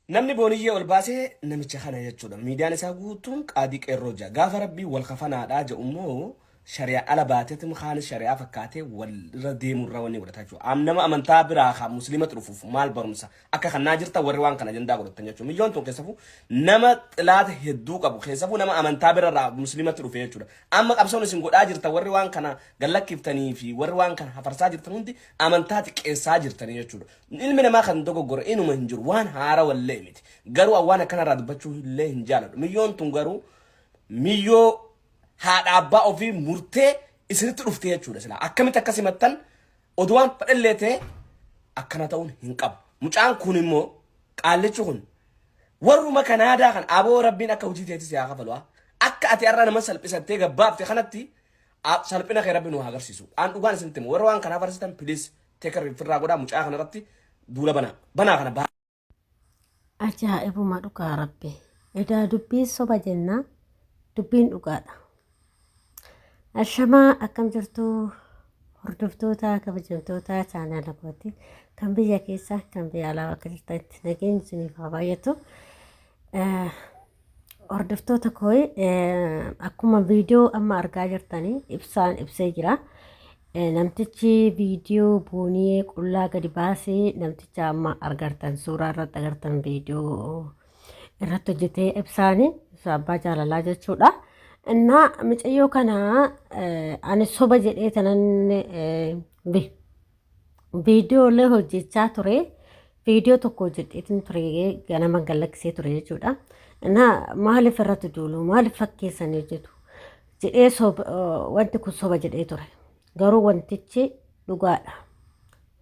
Namni booniyyee ol baase namicha kana jechuudha. Miidiyaan isaa guutuun qaadii qeerroo ja'a. Gaafa rabbiin wal kafanaadhaa ja'u immoo shari'a ala baateetm kaanis shari'aa fakkaatee wal irra deemuu irra wanni godhataa jechuudha. Am nama amantaa biraa kaa musliimatti dhufuuf maal barumsa akka kannaa jirta warri waan kana ajandaa godhattan jechuudha. Miidiyoon tun keessafuu nama xilaata hedduu qabu keessafuu nama amantaa bira irraa musliimatti dhufe jechuudha. Amma qabsoon isin godhaa jirta warri waan kana gallakkiftanii fi warri waan kana hafarsaa jirtan hundi amantaa xiqqeessaa jirtanii jechuudha. Ilmi namaa kan dogoggore inuma hin jiru. Waan haarawa illee miti. Garuu an waan akkanarraa dubbachuu illee hin jaaladhu. Miyyoon tun garuu miyyoo haadha abbaa ofii murtee isinitti dhufte jechuudha silaa. Akkamitti akkas himattan oduu waan fedhallee ta'e akkana ta'uun hin qabu. Mucaan kun immoo qaallichi kun warruma kan aadaa kan aboo rabbiin akka hojii teetti si haa kafalu. ah. Akka ati har'a nama salphisattee gabbaafte kanatti ah, salphina kee rabbi nu haa agarsiisu. An dhugaan isinitti himu warra waan kanaa farsitan please Take a rifirraa godhaa mucaa kana irratti duula banaa. Banaa kana baa. Ajaa'ibuma dhugaa rabbi. Edaa dubbiin soba jennaa dubbiin dhugaadha. Ashamaa akkam jirtu hordoftoota kabajamtoota chaanaala kooti kan biyya keessa kan biyya alaa bakka jirtanitti nageenyi isiniif haa baay'atu. Eh, Hordoftoota koo akkuma viidiyoo amma argaa jirtanii ibsaan ibsee jira. Namtichi viidiyoo booniyee qullaa gadi baasee namticha amma argartan suuraa irratti agartan viidiyoo irratti hojjetee ibsaanii ibsaa abbaa jaalalaa jechuudha. Innaa micayyoo kana ani soba jedhee tanan viidiyoolee hojjechaa ture viidiyoo tokko hojjedheetiin ture ganama gallaksee ture jechuudha. Na maaliif irratti duulu maaliif fakkeessanii hojjetu jedhee soba- eh, wanti kun soba jedhee ture garuu wantichi dhugaadha.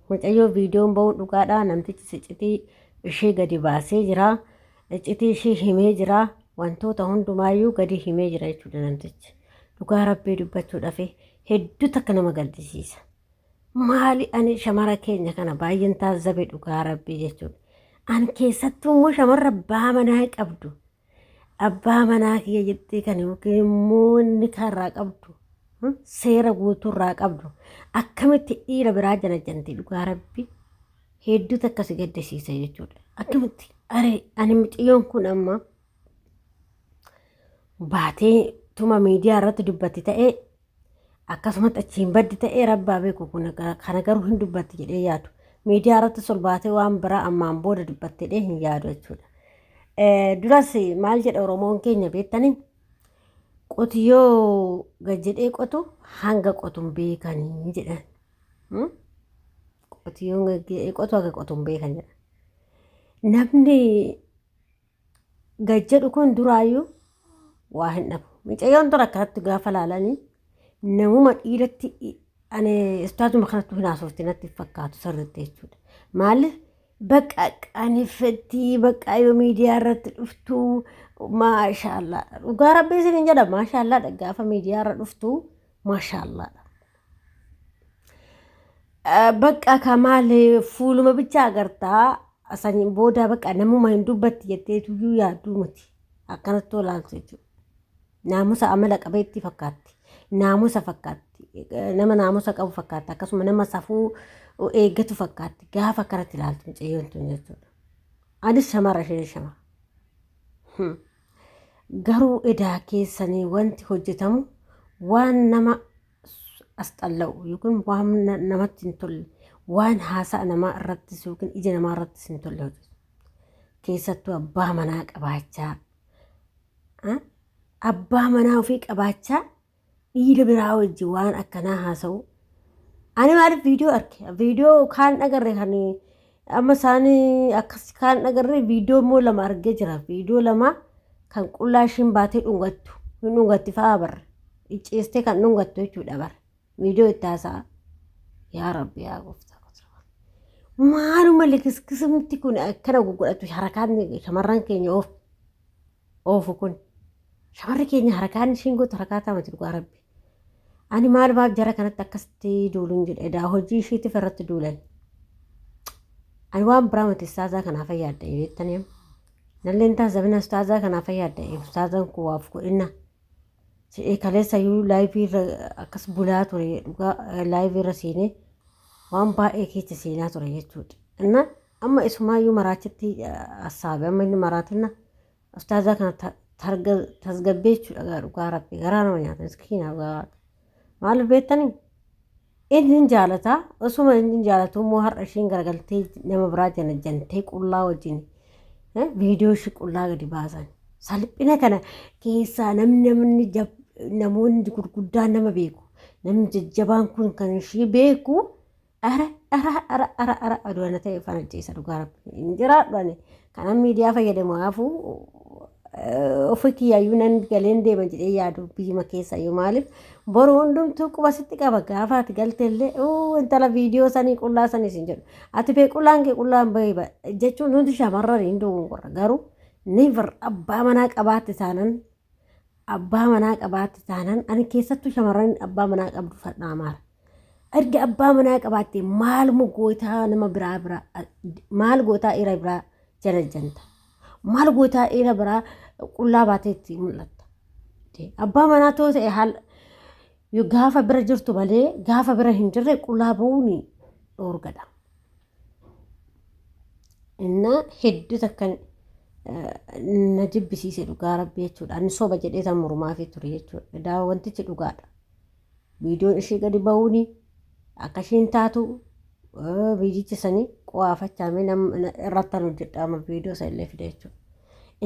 Mucayyoo viidiyoon ba'uun dhugaadha namtichi sicitii ishee gadi baasee jira icitii ishee himee jira wantoota hundumaayyuu gadi himee jira jechuudha namtichi. Dhugaa rabbii dubbachuudhaaf hedduu takka nama gaddisiisa. Maali ani shamara keenya kana baay'een taazzabe dhugaa rabbii jechuudha. An keessattuu immoo shamarra abbaa manaa qabdu. Abbaa manaa kiyya jettee kan yookiin immoo inni kaarraa qabdu. hmm, Seera guutuurraa qabdu. Akkamitti dhiira biraa janajjanti dhugaa rabbii. Hedduutu akkasi gaddisiisa jechuudha. Akkamitti aree ani mucayyoon kun amma baatee tuma miidiyaa irratti dubbatti ta'ee akkasumatti achiin baddi ta'ee rabbaa beeku kun kana garuu hin dubbatti jedhee yaadu miidiyaa irratti solbaatee waan biraa ammaan booda dubbatte jedhee hin yaadu jechuudha. Eh, Duras maal jedha Oromoon keenya beektanii qotiyyoo gad jedhee qotu hanga qotu hin beekanii jedhan. Hmm? Qotiyyoon gad jedhee qotu hanga qotu hin beekan jedhan. Namni gad jedhu kun duraayyuu waa hin dhabu. Mucayyoon dura akkanatti gaafa laalanii namuma dhiiratti ani istaatuma kanatti hin haasofti natti hin fakkaatu sirriitti jechuudha. Maaliif bakka qaaneffettii bakka yoo miidiyaa irratti dhuftu maashaallaa dhugaa rabbii isin hin jedha maashaallaa gaafa miidiyaa irra dhuftu maashaallaa. Eh, Bakka ka maali fuuluma bicha agartaa saniin booda bakka namuma hin dubbatti jettee tuyyuu yaadduu miti akkanatti olaaltu jechuudha. Naamusa amala qabeettii fakkaatti. Naamusa fakkaatti. Eh, Nama naamusa qabu fakkaatti. Akkasuma nama safuu eeggatu fakkaatti. Gaafa akkanatti ilaaltu mucayyoon tun jechuudha. Anis shamara isheen shamara. Hmm. Garuu edaa keessanii wanti hojjetamu waan nama asxalla'u yookiin waan namatti hin tolle waan haasa'a namaa irrattis yookiin ija namaa irrattis hin tolle hojjetu. Keessattuu abbaa manaa qabaachaa abbaa manaa ofii qabaachaa dhiira biraa wajji waan akkanaa haasa'u. Ani maaliif viidiyoo arge? Viidiyoo kaan dhagarre kan amma isaanii akkas kaan dhagarre viidiyoo immoo lama argee jira. Viidiyoo lama kan qullaa ishiin baatee dhungattu. Hin dhungatti fa'aa barre. Icciistee kan dhungattu jechuudha barre. Viidiyoo itti haasa'a. Yaa Rabbi yaa gooftaa. Maaluma likiskisumti kun akkana gugudhatu harkaan shamarran keenya oofu. oofu kun shamarri keenya harakaan ishiin gootu harakaa taamati dhugaa rabbi ani maal baaf jara kanatti akkasitti duuluun jedhe edaa hojii ishiitiif irratti duulan ani waan biraa miti istaazaa kanaa fayyaadda beektanii nalleen taas zabina istaazaa kanaa fayyaadda istaazaan koo waaf godhinna jedhee kaleessa iyyuu laayivii irra akkas bulaa ture dhugaa laayivii irra seenee waan baay'ee keessa seenaa ture jechuudha. Innaa Amma isumaayyuu maraachitti hassaabe amma inni maraatinna ustaazaa kana ta- targa tasgabbee jechuudha gaa dhugaa rabbi garaa nama nyaata miskiina dhugaa waaqa maaliif beektanii inni hin jaalataa osuma inni hin jaalatuu immoo har'a ishiin garagaltee nama biraa jana jantee qullaa wajjin eh, viidiyoo ishii qullaa gadi baasan salphina kana keessaa namni namni jab- namoonni gurguddaan nama beeku namni jajjabaan kun kan ishii beeku Ara ara ara ara ara oduu ana ta'e ufaan ajjeessa dhugaa rabbi hin jiraadhu ani kanan miidiyaa fayyadamu haafuu ofii kiyyaayyuu nan galeen deema jedhee yaadu biyyuma keessa yoo maaliif boru hundumtuu quba sitti qaba gaafa ati galteellee uu intala viidiyoo sanii qullaa sanii sin jedhu ati bee qullaan kee qullaan bahee ba jechuun hundi shamarran hin duwwun qorra garuu never abbaa manaa qabaatte taanan abbaa manaa qabaatti taanaan ani keessattuu shamarran abbaa manaa qabdu fadhaa maara. Erga abbaa manaa qabaatte maal mu gootaa nama biraa biraa maal gootaa dhiira biraa jalajjanta. Maal gootaa dhiira biraa qullaa baatee itti mul'atta. Abbaa manaa too ta'e haal gaafa bira jirtu malee gaafa bira hin jirre qullaa ba'uun dhoorgadha. Innaa hedduu takkan na jibbisiise dhugaa rabbi jechuudha. Ani soba jedhee tan mormaafii ture jechuudha. Daawa wantichi dhugaadha. Viidiyoon ishii gadi ba'uuni akka ishiin taatu viidiyicha sanii qo'aafachaamee irratti tan hojjedhaama viidiyoo san illee fide jechuudha.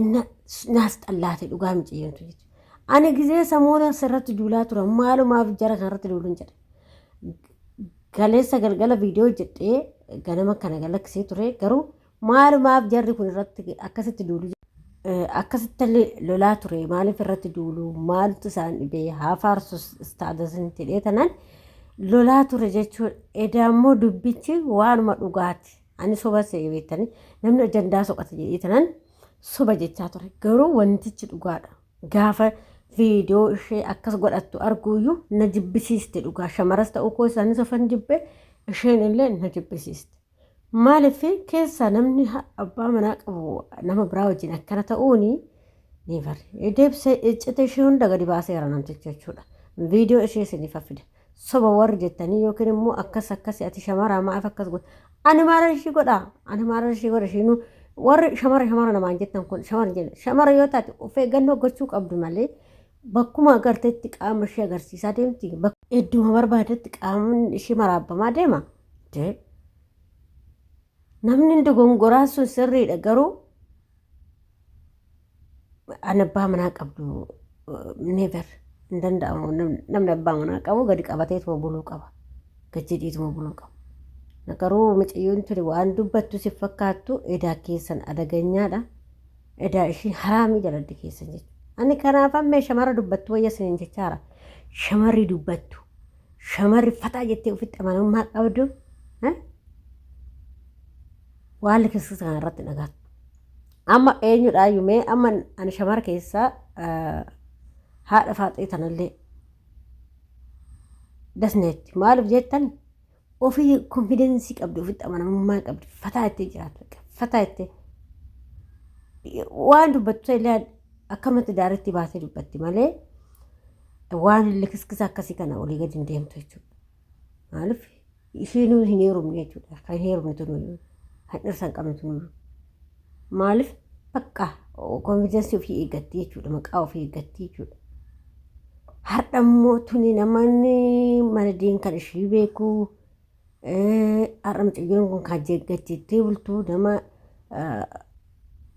Inna naas xallaate dhugaa miciyyoontu jechuudha. Ani gizee samoona asirratti duulaa tura maalumaaf jara kanarratti duulun jedha. Kaleessa galgala viidiyoo hojjedhee ganama kana galakkisee ture garuu maalumaaf jarri kun irratti akkasitti duulu akkasitti lolaa ture maaliif irratti duulu maaltu isaan dhibee haa faarsu istaadasni jedhee tanan lolaa ture jechuun edaa immoo dubbichi waanuma dhugaati ani soba se'ee beektanii namni ajandaa soqate jedhee tanan soba jechaa ture garuu wantichi dhugaadha. Gaafa viidiyoo ishee akkas godhattu arguuyyuu na jibbisiiste dhugaa shamaras ta'uu koo isaanis ofan jibbe isheen illee na jibbisiiste. Maaliif keessaa namni ha- abbaa manaa qabu nama biraa wajjin akkana ta'uuni neevar deebisee iccita ishee hunda gadi baaseera namtichi jechuudha. Viidiyoo ishee isiniif fida. soba warri jettanii yookiin immoo akkas akkasi ati shamaraa maaf akkas godha ani maalan ishii godha ani maalan ishii godha ishiinuu warri shamara shamara namaan jettan kun shamara jenna shamara yoo taate of eeggannoo gochuu qabdu malee bakkuma agartetti qaama ishee agarsiisaa deemti idduma barbaadetti qaamni ishee maraabbamaa deema jee namni dogongoraa sun sirriidha garuu an abbaa manaa qabdu never hin danda'amu namni abbaa manaa qabu gadi qabateetuma buluu qaba gad jedhiituma buluu qaba nagaruu miciyyoon tuni waan dubbattu si fakkaattu edaa keessan adaganyaadha edaa ishiin haraamii jaladdi keessan jechuudha ani kanaaf ammee shamara dubbattu wayya sinin jechaara shamarri dubbattu shamarri fataa jettee ofitti amanamummaa qabdu waan likirsisa kana irratti dhagaattu Amma eenyudhaayyuu mee amma ani shamara keessaa haadha faaxee tanallee dasneetti maaliif jettan ofii konfidensii qabdi ofitti amanamummaa qabdi fataa ittee jiraatu fataa ittee waan dubbattu illee akkamatti daaretti baasee dubbatti malee waan likiskisa akkasii kana olii gadi hin deemtu jechuudha. Maaliif ishiinuu hin heerumne jechuudha. Kan heerumne tunuyyuu. Kan dhirsa hin qabne tunuyyuu. Maaliif bakka konfiidensii ofii eeggatti jechuudha. Maqaa ofii eeggatti jechuudha. Har'a immoo tuni namoonni mana diin kan ishii beeku eh, har'a mucayyoon kun kan jeeggachiittee bultu nama eh,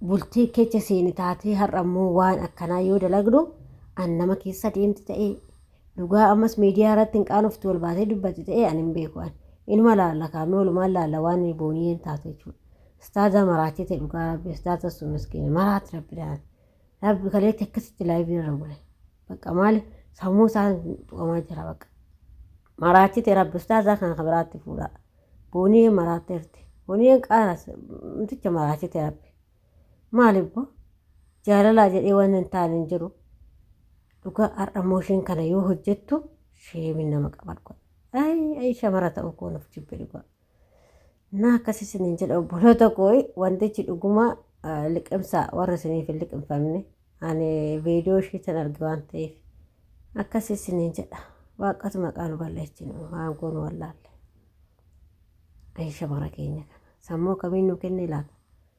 bultii keessa seeni taatee har'a immoo waan akkanaa yoo dalagdu an nama keessa deemti ta'ee Dhugaa ammas miidiyaa irratti hin qaanoftu ol baatee dubbatti ta'ee ani hin beeku ani. Inuma laalla kaamee olumaan laalla waan inni booniyyeen taatu jechuudha. Istaaza maraatee ta'e dhugaa rabbi istaaza sun miskiina maraati rabbi daa'an. Rabbi kaleetti akkasitti laayivii irra bule. Bakka maali sammuu isaa tuqamaa jira bakka. Maraatee ta'e rabbi istaazaa kana kan biraatti fuudhaa. Booniyyeen maraatteerti. Booniyyeen qaanas miticha maraatee ta'e rabbi. Maali bbo jaalalaa jedhee waan hin taane hin jiru. Dhugaa har'a immoo isheen kana yoo hojjettu sheemin nama qaba dhugaa. Ayi ayi shamara ta'uu koo nuuf jibbe dhugaa. Naa akkas isin hin jedha obboloota koo wantichi dhuguma liqimsaa warra isiniif hin liqimfamne ani viidiyoo ishee tan arge waan ta'eef akkas isin hin jedha waaqatu maqaa nu balleessinu waan goonu wallaalle. Ayi shamara keenya kana sammuu akkamiin nu kenne laata?